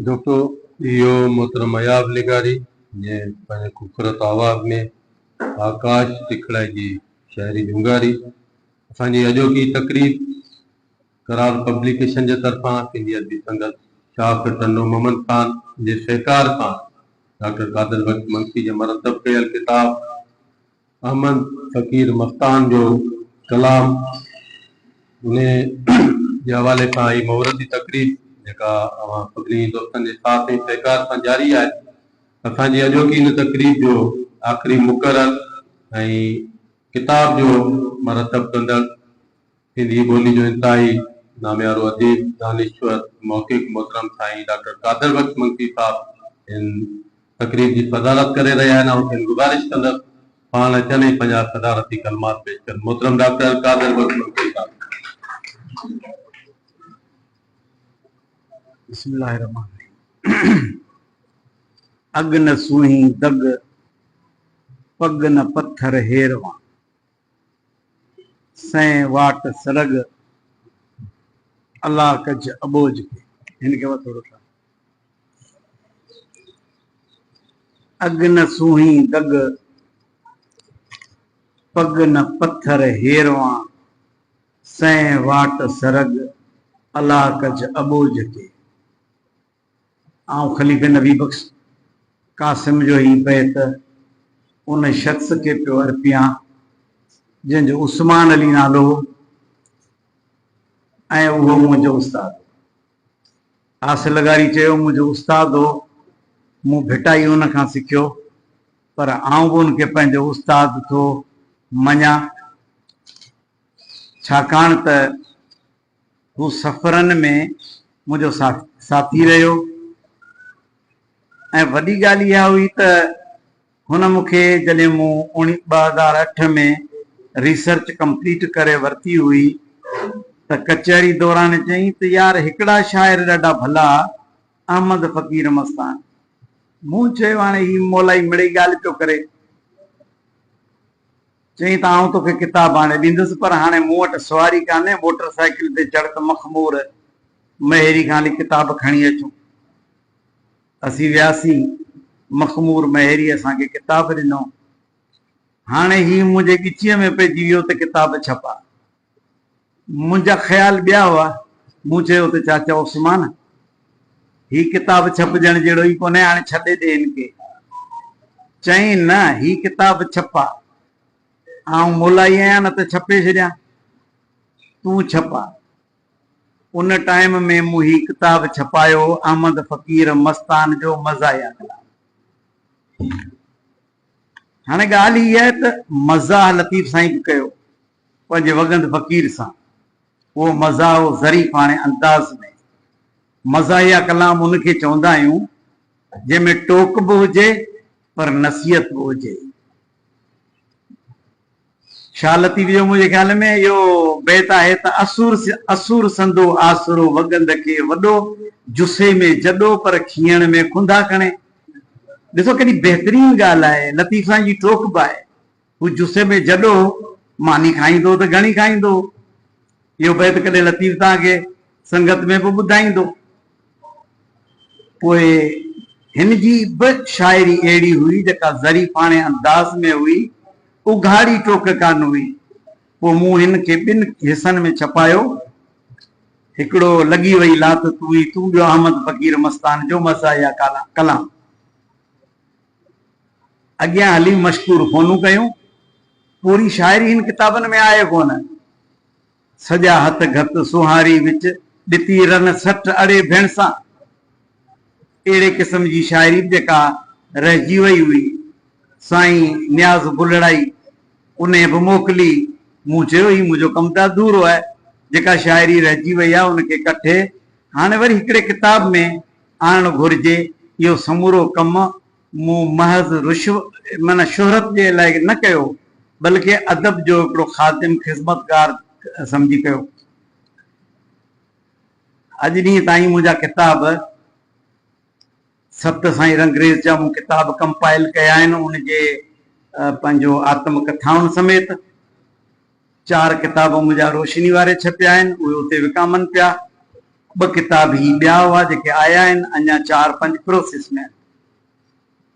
دوستو اهو محترم اياز لغاري جنهن پنهنجي خوبصورت آواز ۾ آڪاش ٽکڙائي جي شاعري جهونگاري اسان جي اڄوڪي تقريب قرار پبليڪيشن جي طرفان سنڌي ادبي سنگت شاخ ٽنڊو محمد خان جي سهڪار سان ڊاڪٽر قادر بخش منشي جي مرتب ڪيل ڪتاب احمد فقير مستان جو ڪلام انهي جي حوالي سان هي مهورتي تقريب جيڪا اوهان سڀني دوستن جي ساٿ ۽ سهڪار سان جاري آهي. اسان جي اڄوڪي ان تقريب جو آخري مقرر ۽ ڪتاب جو مرتب ڪندڙ سنڌي ٻولي جو انتهائي ناميارو اديب، دانشور، محقق محترم سائين ڊاڪٽر قادر بخش منگتي صاحب هن تقريب جي صدارت ڪري رهيا آهن، آئون کين گذارش ڪندس پاڻ اچن ۽ پنهنجا صدارتي ڪلمات پيش ڪن. محترم ڊاڪٽر قادر بخش منگتي صاحب. بسم الله الرحمٰن الرحيم اڳ نه سونهين دڳ، پڳ نه پٿر هيروان. سئين واٽ سرڳ الله ڪج اٻوجھ کي. ھن کي وٿو رٺا. اڳ نه سونھي دڳ پڳ نه پٿر ھيروان سئين واٽ سرڳ الله ڪج اٻوجھ کي. آئون خليفي نبي بخش قاسم جو هي بيت ان شخص کي پيو ارپيان جنهن جو عثمان علي نالو هو ۽ اهو منهنجو استاد هو. آصف لغاري چيو، منهنجو استاد هو، مون ڀٽائي ان کان سکيو، پر آئون به ان کي پنهنجو استاد ٿو مڃان، ڇاڪاڻ ته هو سفرن ۾ منهنجو ساٿي رهيو ۽ وڏي ڳالهه اها هئي ته هن مون کي جڏهن مون اوڻي ٻه هزار اٺ ۾ ريسرچ ڪمپليٽ ڪري ورتي هئي ته ڪچهري دوران چيائين ته يار هڪڙا شاعر ڏاڍا ڀلا احمد فقير مستان مون چيو هاڻي هي مولائي مڙئي ڳالهه پيو ڪري. چيائين ته آئون توکي ڪتاب آڻي ڏيندس پر هاڻي مون وٽ سواري ڪانهي، موٽر سائيڪل تي چڙهه ته مخمور مهيري کان هلي ڪتاب کڻي اچون. اسين وياسين، مخمور مهيري اسان کي ڪتاب ڏنو. هاڻي هي منهنجي ڳچيء ۾ پئجي ويو ته ڪتاب ڇپاء. منهنجا خيال ٻيا هئا. مون چيو ته چاچا عثمان، هي ڪتاب ڇپجڻ جهڙو ئي ڪونهي، هاڻي ڇڏي ڏي هن کي. چيائين، نه، هي ڪتاب ڇپاء. آئون مولائي آهيان، نه ته ڇپي ڇڏيان. تون ڇپاء. ان ٽائيم ۾ مون هي ڪتاب ڇپايو هو، احمد فقير مستان جو مزاحيه ڪلام. هاڻي ڳالهه هيء آهي ته مزاح لطيف سائين به ڪيو. پنهنجي وڳند فقير سان اهو مزاح و ظريفاڻي انداز ۾ مزاحيه ڪلام ان کي چوندا آهيون جنهن ۾ ٽوڪ به هجي پر نصيحت به هجي. شاهه لطيف جو منهنجي خيال ۾ اهو بيت آهي ته اسور اسور سندو آسرو وڳند کي وڏو جسي ۾ جڏو پر کيڻ ۾ کنڌا کڻي. ڏسو ڪيڏي بهترين ڳالهه آهي لطيف سائين جي ٽوڪ به آهي. هو جسي ۾ جڏو ماني کائيندو ته گهڻي کائيندو. اهو بيت ڪڏهن لطيف توهان کي سنگت ۾ به ٻڌائيندو. پوء هن جي به شاعري اهڙي هئي جيڪا ظريفاڻي انداز ۾ هئي، اگهاڙي ٽوڪ ڪانه هئي. پوء مون هن کي ٻن حصن ۾ ڇپايو. هڪڙو لڳي وئي لات تون ئي تون ٻيو احمد فقير مستان جو مزاحيه ڪلام. اڳيان هلي مشڪور فونون ڪيون. پوري شاعري هن ڪتابن ۾ آهي ڪونه. سڄا هٿ گهت سونهاري وچ ڏتي رن سٺ اڙي ڀيڻ سان. اهڙي قسم جي شاعري به جيڪا رهجي وئي هئي، سائين نياز بلڙائي انهي به موڪلي. مون چيو هي منهنجو ڪم ته اڌورو آهي. جيڪا شاعري رهجي وئي آهي ان کي ڪٺي هاڻي وري هڪڙي ڪتاب ۾ آڻڻ گهرجي، اهو سمورو ڪم مون محض رشوت معنيٰ شهرت جي لاء نه ڪيو، بلڪه ادب جو هڪڙو خادم خذمتگار سمجهي ڪيو. اڄ ڏينهن تائين منهنجا ڪتاب ست سائين رنگريز جا مون ڪتاب ڪمپائل ڪيا آهن، ان جي پنهنجو آتم ڪٿائن سميت، چار ڪتاب منهنجا روشني واري ڇپيا آهن، اهي اتي وڪامن پيا. ٻه ڪتاب هي ٻيا هئا جيڪي آيا آهن، اڃا چار پنج پروسيس ۾ آهن.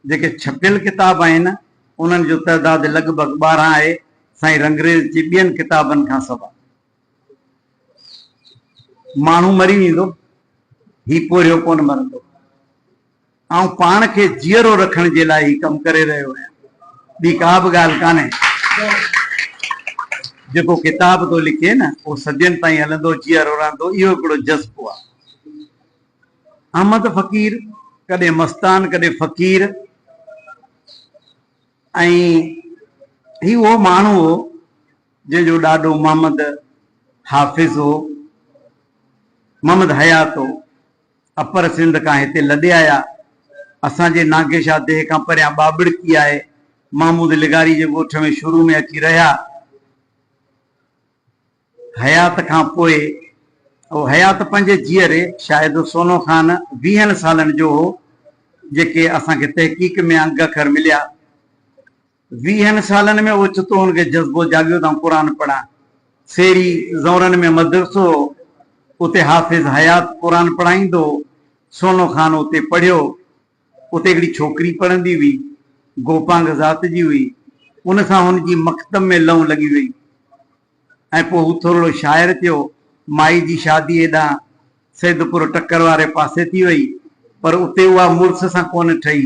جيڪي ڇپيل ڪتاب آهن، انهن جو تعداد لڳ ڀڳ ٻارهن آهي، سائين رنگريز جي ٻين ڪتابن کان سواء. ماڻهو مري ويندو، هي پورهيو ڪونه مرندو. آئون پاڻ کي جيئرو رکڻ جي لاء هي ڪم ڪري رهيو آهيان. ٻي ڪا به ڳالهه ڪانهي. جيڪو ڪتاب ٿو لکي نه اهو صدين تائين هلندو، جيئرو رهندو، اهو هڪڙو جذبو آهي. احمد فقير ڪڏهن مستان ڪڏهن فقير ۽ هي اهو ماڻهو هو جنهن جو ڏاڏو محمد حافظ هو، محمد حيات هو. اپر سنڌ کان هتي لڏي آيا. اسان جي ناگي شاهه ديهه کان پريان ٻاٻڙڪي آهي. محمود لغاري جي ڳوٺ ۾ شروع ۾ اچي رهيا. حيات کان پوء اهو حيات پنهنجي جيئري شاهد سونو خان ويهن سالن جو هو، جيڪي اسان کي تحقيق ۾ انگ اکر مليا. ويهن سالن ۾ اوچتو هن کي جذبو جاڳيو ته آئون قرآن پڙهان. سيري زورن ۾ مدرسو هو، اتي حافظ حيات قرآن پڙهائيندو هو. سونو خان اتي پڙهيو. اتي هڪڙي ڇوڪري پڙهندي هئي. گوپانگ ذات جي هئي. ان سان هن جي مڪتب ۾ لئون لڳي ويئي. ۽ پوء هو ٿورڙو شاعر ٿيو. مائي جي شادي هيڏانهن سيدپور ٽڪر واري پاسي ٿي وئي، پر اتي اها مڙس سان ڪونه ٺهي،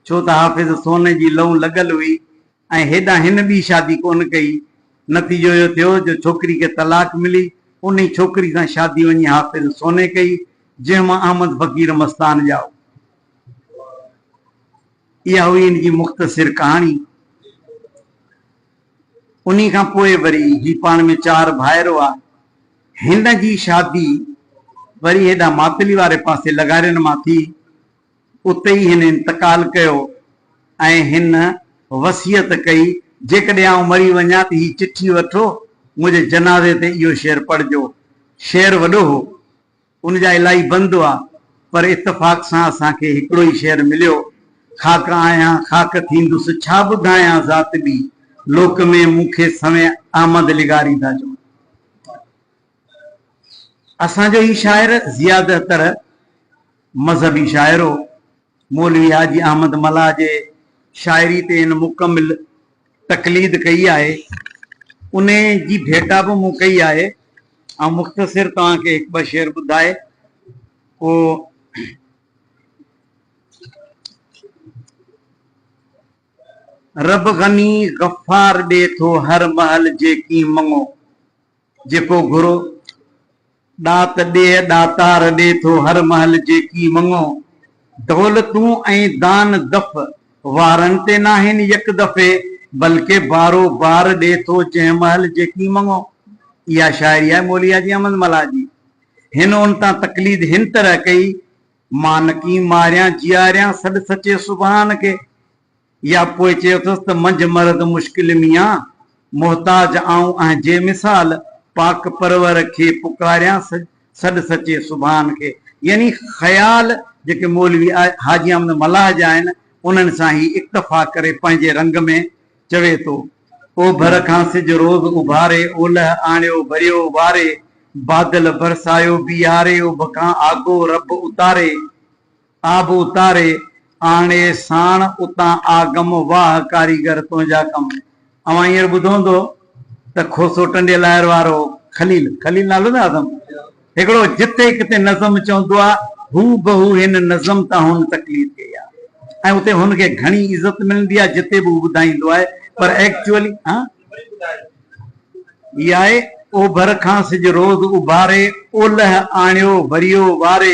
ڇو ته حافظ سونهن جي لئون لڳل هئي ۽ هيڏانهن هن ٻي شادي ڪونه ڪئي. نتيجو اهو ٿيو جو ڇوڪري کي طلاق ملي، انهي ڇوڪري سان شادي وڃي حافظ سونهن ڪئي، جنهن مان احمد فقير مستان ڄائو. اها هئي هن جي مختصر ڪهاڻي. انهي کان پوء وري هي پاڻ ۾ چار ڀائر هئا. هن جي شادي وري هيڏانهن ماتلي واري پاسي لغارين مان ٿي. اتي ئي هن انتقال ڪيو ۽ هن وصيت ڪئي، جيڪڏهن آئون مري وڃان ته هي چٺي وٺو، منهنجي جنازي تي اهو شعر پڙهجو. شعر وڏو هو. ان جا الائي بند هئا، پر اتفاق سان اسان کي هڪڙو ئي شعر مليو، خاڪ آهيان، خاڪ ٿيندس، ڇا ٻڌايان ذات ٻي، لوڪ ۾ مون کي سوين احمد لغاري ٿا چون. اسان جو هي شاعر زيادهتر مذهبي شاعر هو. مولوي حاجي احمد ملاح جي شاعري تي هن مڪمل تقليد ڪئي آهي، انهيء جي ڀيٽا به مون ڪئي آهي. آئون مختصر توهان کي هڪ ٻه شعر ٻڌائي پوء. رب غني غفار ڏي ٿو هر مهل جيڪين مڱو، جيڪو گهرو، ڏات ڏيهه ڏاتار ڏي ٿو هر مهل جيڪي مڱو، دولتون ۽ دان دف وارن تي ناهن يڪ دفعي، بلڪه بارو بار ڏي ٿو جنهن مهل جيڪي مڱو. اها شاعري آهي مولوي حاجي احمد ملاح جي. هن ان تان تقليد هن طرح ڪئي، مان نڪين ماريان جياريان سڏ سچي سبحان کي. يا پوء چيوتس ته منجهه مرد مشڪل ميان، محتاج آئون اهين جي مثال، پاڪ پرور کي پڪاريان سڏ سچي سبحان کي. يعني خيال جيڪي مولوي حاجي احمد ملاح جا آهن انهن سان هي اڪتفا ڪري پنهنجي رنگ ۾ چوي ٿو. اوڀر کان سج روز اڀاري، اولهه آڻيو وريو واري، بادل برسايو بيهاري، اڀ کان آگو رب اتاري. آب اتاري آڻي ساڻ اتان آ گم واھ ڪاريگر تنهنجا ڪم اوهان هينئر ٻڌو هوندو ته کوسو ٽنڊي لاهر وارو خليل خليل نالو نه آدم هڪڙو جتي ڪتي نظم چوندو آ هو بهو هن نظم تان هن تقليد ڪئي آ ۽ اتي هن کي گهڻي عزت ملندي آ جتي به هو ٻڌائيندو آهي پر ايڪچوئلي ها هي آهي اوڀر کان سج روز اڀاري اولهه آڻيو وريو واري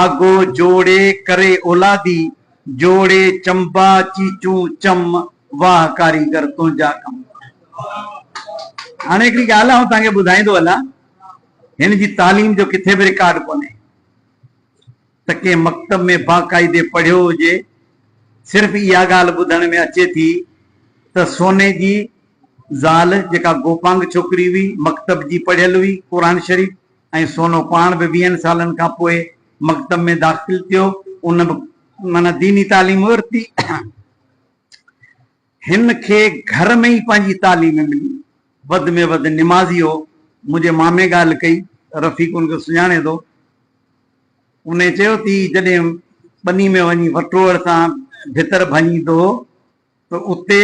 آگو جوڙي ڪري اولادي، جوڙي چنبا چيچون چم، واھ ڪاريگر تنهنجا ڪم. هاڻي هڪڙي ڳالهه آئون توهان کي ٻڌائيندو هلان، هن جي تعليم جو ڪٿي به رڪارڊ ڪونهي ته ڪنهن مڪتب ۾ باقاعدي پڙهيو هجي، صرف اها ڳالهه ٻڌڻ ۾ اچي ٿي ته سوني جي زال جيڪا گوپانگ ڇوڪري هئي، مڪتب جي پڙهيل هئي، قرآن شريف. ۽ سونو پاڻ به ويهن سالن کان پوء مڪتب ۾ داخل ٿيو ان به معنيٰ ديني تعليم ورتي هن کي گهر ۾ ئي پنهنجي تعليم ملي وڌ ۾ وڌ نمازي هو منهنجي مامي ڳالهه ڪئي رفيق ان کي سڃاڻي ٿو ان چيو ٿي جڏهن ٻني ۾ وڃي وٽوڙ سان ڀتر ڀڃيندو هو. ته اتي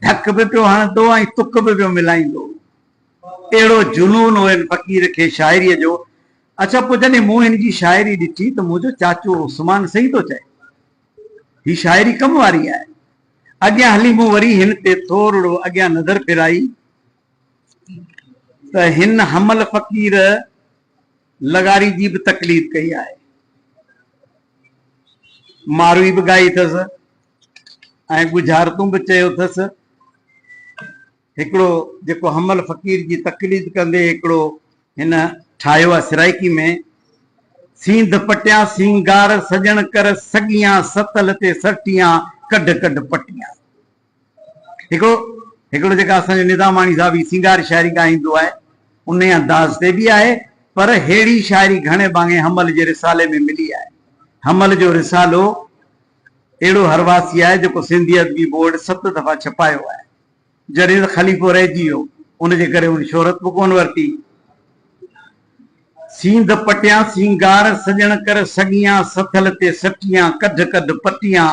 ڌڪ به پيو هڻندو ۽ تڪ به پيو ملائيندو هو. اهڙو جنون هو هن فقير کي شاعريء جو. اڇا پوء جڏهن مون هن جي شاعري ڏٺي ته منهنجو چاچو عثمان صحيح ٿو چئي. هي شاعري ڪم واري آهي. اڳيان هلي مون وري هن تي ٿورڙو اڳيان نظر ڦيرائي ته هن حمل فقير لغاري جي به تقليد ڪئي آهي. ماروئي به ڳائي اٿس. ۽ ڳجهارتون به چيو اٿس. هڪڙو جيڪو حمل فقير جي تقليد ڪندي هڪڙو هن ٺاهيو آهي سرائيڪي ۾، سينڌ پٽيان سينگار سڄڻ ڪر سڳيان ستل تي سرٽيان ڪڍ ڪڍ پٽيان. هڪڙو هڪڙو جيڪا اسان جو نظاماڻي صاحب هي سينگار شاعري ڳائيندو آهي انهي انداز تي به آهي پر ههڙي شاعري گهڻي ڀاڱي حمل جي رسالي ۾ ملي آهي. حمل جو رسالو. اهڙو هرواثي آهي جيڪو سنڌي ادبي بورڊ ست دفعا ڇپايو آهي. جڏهن ته خليفو رهجي ويو ان جي ڪري هن شهرت به ڪونه ورتي. سينڌ پٽيان سينگار سڄڻ ڪر سڳيان سٿل تي سٽيان ڪڍ ڪڍ پٽيان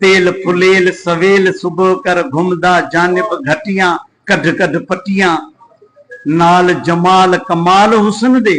تيل ڦليل سويل صبح ڪر گهمدا جانب گهٽيان ڪڍ ڪڍ پٽيان نال جمال ڪمال حسن دي.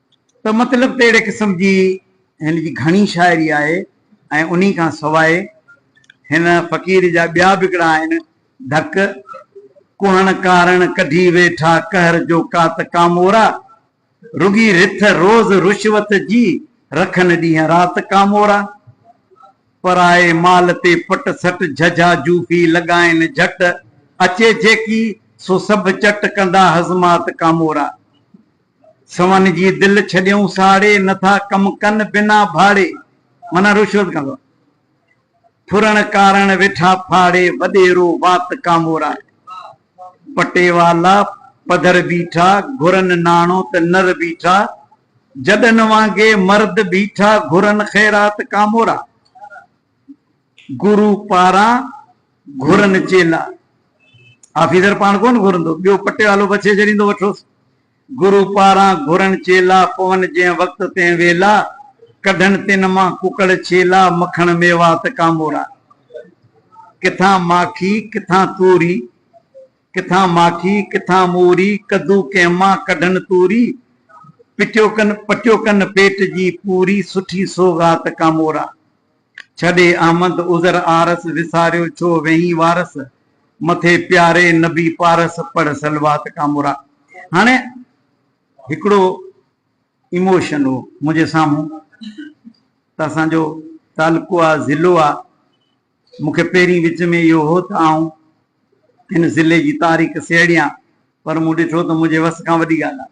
ته مطلب ته اهڙي قسم جي هن جي گهڻي شاعري آهي ۽ انهي کان سواء هن فقير جا ٻيا به هڪڙا آهن، ڍڪ، ڪهڻ ڪارڻ ڪڍي ويٺا قهر جو ڪات ڪامورا، رڳي رٿ روز رشوت جي، رکن ڏينهن رات ڪامورا، پرائي مال تي پٽ سٽ جهجها جوفي لڳائين جهٽ، اچي جيڪي سو سڀ چٽ ڪندا هضمات ڪامورا، سون جي دل ڇڏيئون ساڙي، نه ٿا ڪم ڪن بنا ڀاڙي. معنيٰ رشوت ڪندو آهي. ڦرڻ ڪارڻ ويٺا ڦاڙي، وڏيرو وات ڪامورائي. پٽيوالا پڌر بيٺا، گهرن ناڻو ته نر بيٺا. جڏن وانگي مرد بيٺا، گهرن خيرات ڪامورائي. گرو پاران گهرن چيلا. آفيسر پاڻ ڪونه گهرندو، ٻيو پٽيوالو وڇي ڇڏيندو وٺوس. گرو پاران گهرن چيلا، پون جنهن وقت تنهن ويلا، ڪڍن تن مان ڪڪڙ ڇيلا، مکڻ ميوا ته ڪامورا. ڪٿان ماکي ڪٿان توري، ڪٿان ماکي ڪٿان موري، ڪدو ڪنهن مان ڪڍن توري، پٽيو ڪن پٽيو ڪن پيٽ جي پوري، سٺي سوغات ڪامورا. ڇڏي احمد عذر عارس، وساريو ڇو ويهين وارس، مٿي پياري نبي پارس، پڙهه صلوات ڪا مرا. هاڻي هڪڙو ايموشن هو منهنجي سامهون ته اسان جو تعلقو آ ضلعو آ، مون کي پهرين وچ ۾ اهو هو ته آئون هن ضلعي جي تاريخ سهيڙيان پر مون ڏٺو ته منهنجي وس کان وڏي ڳالهه آ.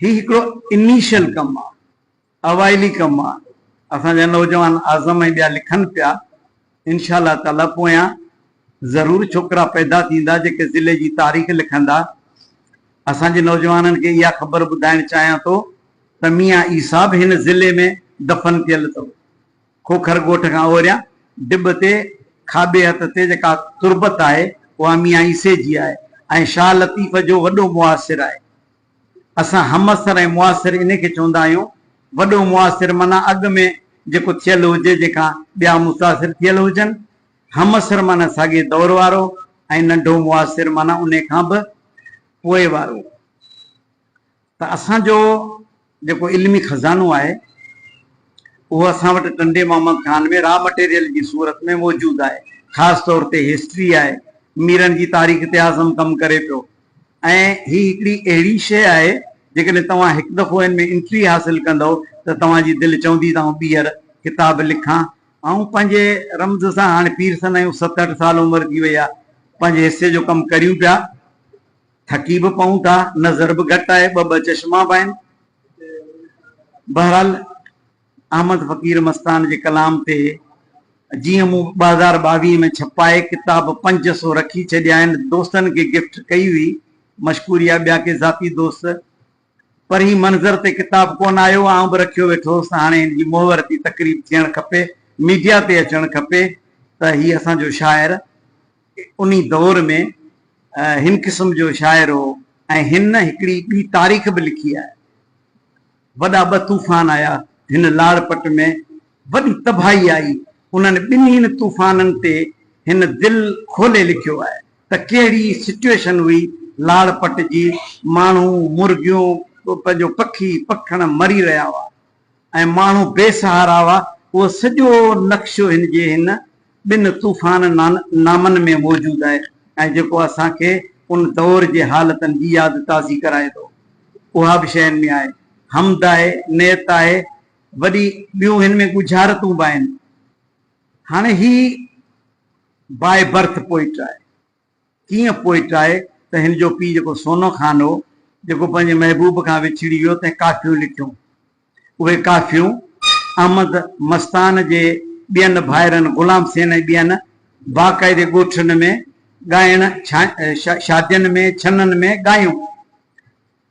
هي هڪڙو انيشل ڪم آ اوائلي ڪم آ اسان جا نوجوان اعظم ۽ ٻيا لکن پيا انشاء الله تعالي پويان ضرور ڇوڪرا پيدا ٿيندا جيڪي ضلعي جي تاريخ لکندا اسان جي نوجوانن کي اها خبر ٻڌائڻ چاهيان ٿو ته ميان عيسيٰ به هن ضلعي ۾ دفن ٿيل اٿو کوکر ڳوٺ کان اوريان ڊٻ تي کاٻي هٿ تي جيڪا تربت آهي اها ميان عيسي جي آهي ۽ شاهه لطيف جو وڏو معاصر آهي. اسان همعصر ۽ معاصر انهي کي چوندا آهيون. وڏو معاصر معنيٰ اڳ ۾ جيڪو ٿيل هجي جنهن کان ٻيا متاثر ٿيل هجن. همعصر معنيٰ ساڳئي دور وارو ۽ ننڍو معاصر معنيٰ انهي کان به پوء وارو. ته اسان جو جيڪو علمي خزانو آهي اهو اسان وٽ ٽنڊي محمد خان ۾ را مٽيريل جي صورت ۾ موجود آهي. خاص طور تي هسٽري آهي. ميرن جي تاريخ تي اعظم ڪم ڪري پيو. ۽ هي هڪڙي اهڙي شيء آهي، جيڪڏهن توهان هڪ دفعو هن ۾ انٽري حاصل ڪندؤ ته توهان جي دل چوندي ته آئون ٻيهر ڪتاب لکان. آئون پنهنجي رمز سان هاڻي پير سن آهيون، ست اٺ سال عمر ٿي وئي آ، پنهنجي حصي جو ڪم ڪريون پيا، ٿڪي به پئون ٿا، نظر به گهٽ آهي، ٻه ٻه چشما به آهن. بهرحال احمد فقير مستان جي ڪلام تي جيئن مون ٻه هزار ٻاويهه ۾ ڇپائي ڪتاب پنج سو رکي ڇڏيائين دوستن کي گفٽ ڪئي هئي مشڪوريا ٻيا ڪي ذاتي دوست پر هي منظر تي ڪتاب ڪونه آيو آئون به رکيو ويٺو هوس هاڻي هن جي مهورتي تقريب ٿيڻ کپي ميڊيا تي اچڻ کپي ته هي اسان جو شاعر انهي دور ۾ هن قسم جو شاعر هو ۽ هن هڪڙي ٻي تاريخ به لکي آهي. وڏا ٻه طوفان آيا. هن لاڙپٽ ۾ وڏي تباهي آئي. انهن ٻنهين طوفانن تي هن دل کولي لکيو آهي ته ڪهڙي سچوئيشن هئي لاڙپٽ جي. ماڻهو، مرغيون، پنهنجو پکي پکڻ مري رهيا هئا ۽ ماڻهو بي سهارا هئا. اهو سڄو نقشو هن جي هن ٻن طوفان نامن ۾ موجود آهي ۽ جيڪو اسان کي ان دؤر جي حالتن جي ياد تازي ڪرائي ٿو. اها به شين ۾ آهي. حمد آهي، نعت آهي، وڏي ٻيون هن ۾ ڳجهارتون به آهن. هاڻي هي باء برٿ پوئٽ آهي. ڪيئن پوئٽ آهي ته هن جو پيء جيڪو سونو خان هو، جيڪو پنهنجي محبوب کان وڇڙي ويو، تنهن ڪافيون لکيون. اهي ڪافيون احمد مستان جي ٻين ڀائرن غلام سين ۽ ٻين باقاعدي ڳوٺن ۾ ڳائڻ، شادين ۾ ڇنن ۾ ڳايون.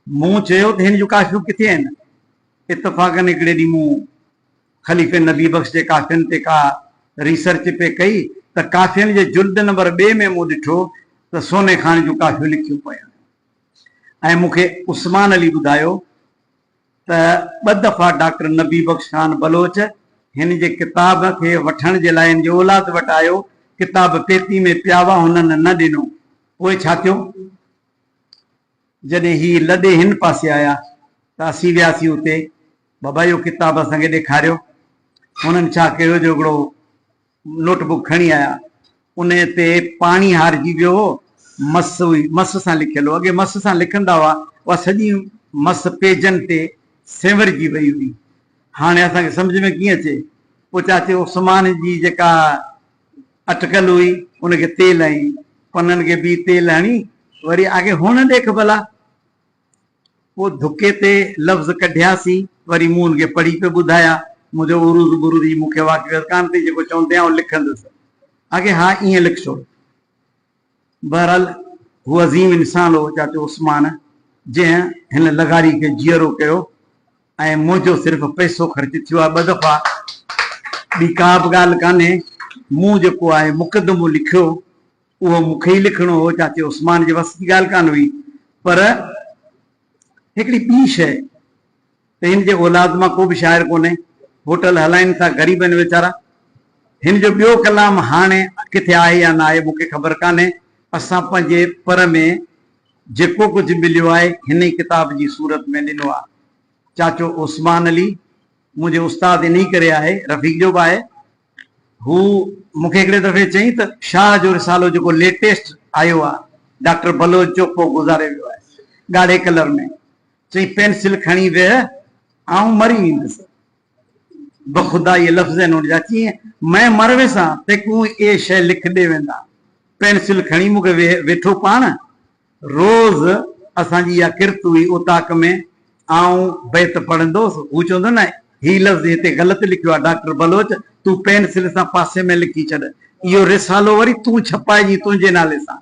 مون چيو ته هن جون ڪافيون ڪٿي آهن؟ اتفاقاً هڪڙي ڏينهن مون. خليفي نبي بخش جي ڪافين تي ڪا ريسرچ پئي ڪئي ته ڪافين جي جلد نمبر ٻئي ۾ مون ڏٺو ته سوني خان جون ڪافيون لکيون پيون هيون ۽ مون کي عثمان علي ٻڌايو ته ٻه دفعا ڊاڪٽر نبي بخش خان بلوچ هن جي ڪتاب کي وٺڻ جي لاء هن جي اولاد وٽ آيو، ڪتاب پيتي ۾ پيا هئا، هنن نه ڏنو. پوء ڇا ٿيو؟ جڏهن هي لڏي هن پاسي آيا ته اسين وياسين اتي بابا اهو ڪتاب اسان کي ڏيکاريو. هنن ڇا ڪيو جو هڪڙو نوٽ بڪ کڻي آيا. انهي تي پاڻي هارجي ويو هو. مس هئي. مس سان لکيل هو. اڳي مس سان لکندا هئا. اها سڄي مس پيجن تي سينورجي وئي هئي. هاڻي اسان کي سمجهه ۾ ڪيئن اچي. پوء چاچي عثمان جي جيڪا اٽڪل هئي ان کي تيل ۽ پنن کي بي تيل هڻي وري آکي هونء ڏيک ڀلا. پوء ڌڪي تي لفظ ڪڍياسين، وري مون ان کي پڙهي پئي ٻڌايا. منهنجو عروض برود جي مون کي اها حقيقت ڪانه پئي، جيڪو چوندي آئون لکندس، اگهي ها ائين لکسو. بهرحال هو عظيم انسان هو چاچو عثمان، جنهن هن لغاري کي جيئرو ڪيو ۽ منهنجو صرف پئسو خرچ ٿيو آهي ٻه دفعا. ٻي ڪا به ڳالهه ڪانهي. مون جيڪو آهي مقدمو لکيو. اهو مون کي ئي لکڻو هو، چاچي عثمان جي وس جي ڳالهه ڪانه هئي، پر هڪڙي ٻي شيء ته هن جي اولاد مان ڪو به شاعر ڪونهي، هوٽل هلائين ٿا، غريب آهن ويچارا. هن جو ٻيو ڪلام هاڻي ڪٿي آهي يا نه آهي، مون کي خبر ڪانهي. اسان پنهنجي پر ۾ جيڪو ڪجهه مليو آهي، هن ئي ڪتاب جي صورت ۾ ڏنو آهي. چاچو عثمان علي منهنجي استاد انهيء ڪري آهي، رفيق جو به آهي، هو مون کي هڪڙي دفعي چيائين ته شاهه جو رسالو جيڪو ليٽيسٽ آيو آهي، ڊاڪٽر بلوچ جو ڪو گذاري ويو آهي، ڳاڙهي ڪلر ۾. چيائين پينسل کڻي ويهه، آئون مري ويندس. بخدائيء لفظين هن جا چيائين، مئن مر ويسان، تيڪون اهي شيء لک ڏي ويندان. پينسل کڻي مون کي ويهه، ويٺو پاڻ. روز اسان جي اها ڪرت هئي، اوطاق ۾ آئون بيت پڙهندو هوس، هو چوندو نه هي لفظ هتي غلط لکيو آهي، ڊاڪٽر بلوچ تون پينسل سان پاسي ۾ لکي ڇڏ، اهو رسالو وري تون ڇپائجين تنهنجي نالي سان.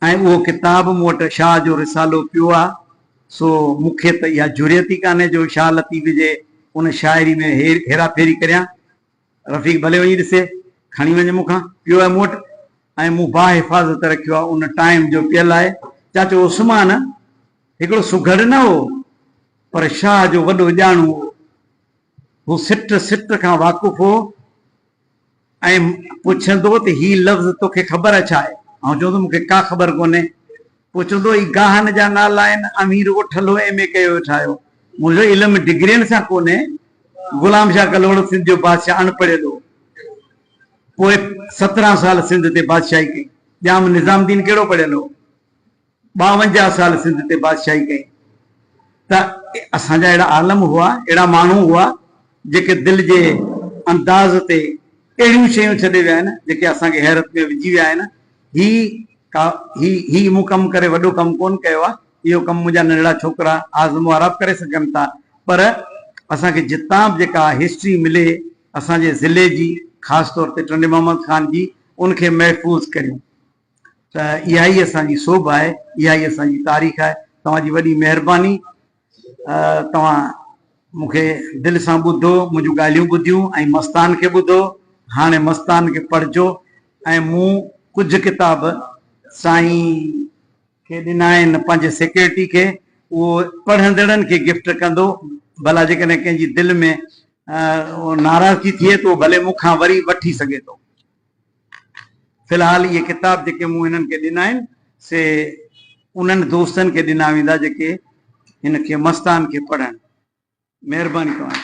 ۽ اهو ڪتاب مون وٽ شاهه جو رسالو پيو آهي، سو مون کي ته اها جرئت ئي ڪانهي جو شاهه لطيف جي ان شاعري ۾ هيرا ڦيري ڪريان. رفيق، ڀلي وڃي ڏسي، کڻي وڃ مون کان، پيو آهي مون وٽ ۽ مون باحفاظت رکيو آهي ان ٽائيم جو پيل آهي. چاچو عثمان هڪڙو سگهڙ نه هو پر شاهه جو وڏو ڄاڻو هو. هو سٽ سٽ کان واقف هو ۽ پڇندو ته هي لفظ توکي خبر ڇا آهي؟ آئون چوندس مون کي ڪا خبر ڪونهي. پوء چوندو هي گاهن جا نالا آهن، اوهين رڳو ٺلهو ايم اي ڪيو ويٺا آهيو. منهنجو علم ڊگرين سان ڪونهي. غلام شاهه ڪلهوڙو سنڌ جو بادشاهه اڻ پڙهيل هو. پوء سترهن سال سنڌ تي بادشاهي ڪئي. ڄام نظام الدين ڪهڙو پڙهيل هو. ٻاونجاهه سال سنڌ تي بادشاهي ڪئي. ته اسان جا اهڙا عالم هئا، اهڙا ماڻهو هئا، جيڪي دل جي انداز تي اهڙيون شيون ڇڏي ويا آهن، جيڪي اسان کي حيرت ۾ وجهي ويا آهن. هي ڪا هي هي مون ڪم ڪري وڏو ڪم ڪون ڪيو آ اهو ڪم منهنجا ننڍڙا ڇوڪرا اعظم و عراب ڪري سگهن ٿا پر اسان کي جتان به جيڪا هسٽري ملي اسان جي ضلعي جي خاص طور تي ٽنڊي محمد خان جي ان کي محفوظ ڪريون ته اها ئي اسان جي سوڀ آهي اها ئي اسان جي تاريخ آهي توهان جي وڏي مهرباني توهان مون کي دل سان ٻڌو، منهنجون ڳالهيون ٻڌيون ۽ مستان کي ٻڌو. هاڻي مستان کي پڙهجو ۽ مون ڪجهه ڪتاب سائين کي ڏنا آهن پنهنجي سيڪريٽري کي، اهو پڙهندڙن کي گفٽ ڪندو، ڀلا جيڪڏهن ڪنهن جي دل ۾ ناراضگي ٿئي ته اهو ڀلي مون کان وري وٺي سگهي ٿو. في الحال اهي ڪتاب جيڪي مون هنن کي ڏنا آهن سي انهن دوستن کي ڏنا ويندا جيڪي هن کي مستان کي پڙهن. مهرباني توهان جي.